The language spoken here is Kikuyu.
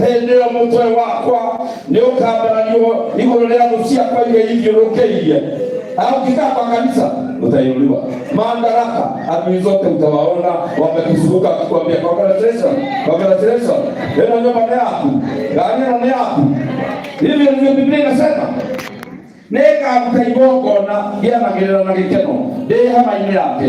hĩndĩ ĩyo mũtwe wakwa nĩ ũkambaranio igũrũ rĩa thũ ciakwa iria ithiũrũkĩirie au kikaa kwa kanisa utainuliwa madaraka adui zote utawaona wamekuzunguka wakikwambia congratulation congratulation eno nyumba ni yaku gari eno ni yaku hivyo ndivyo biblia inasema nĩngaruta igongona gĩanagĩrĩra na gĩkeno ndĩ hema-inĩ yake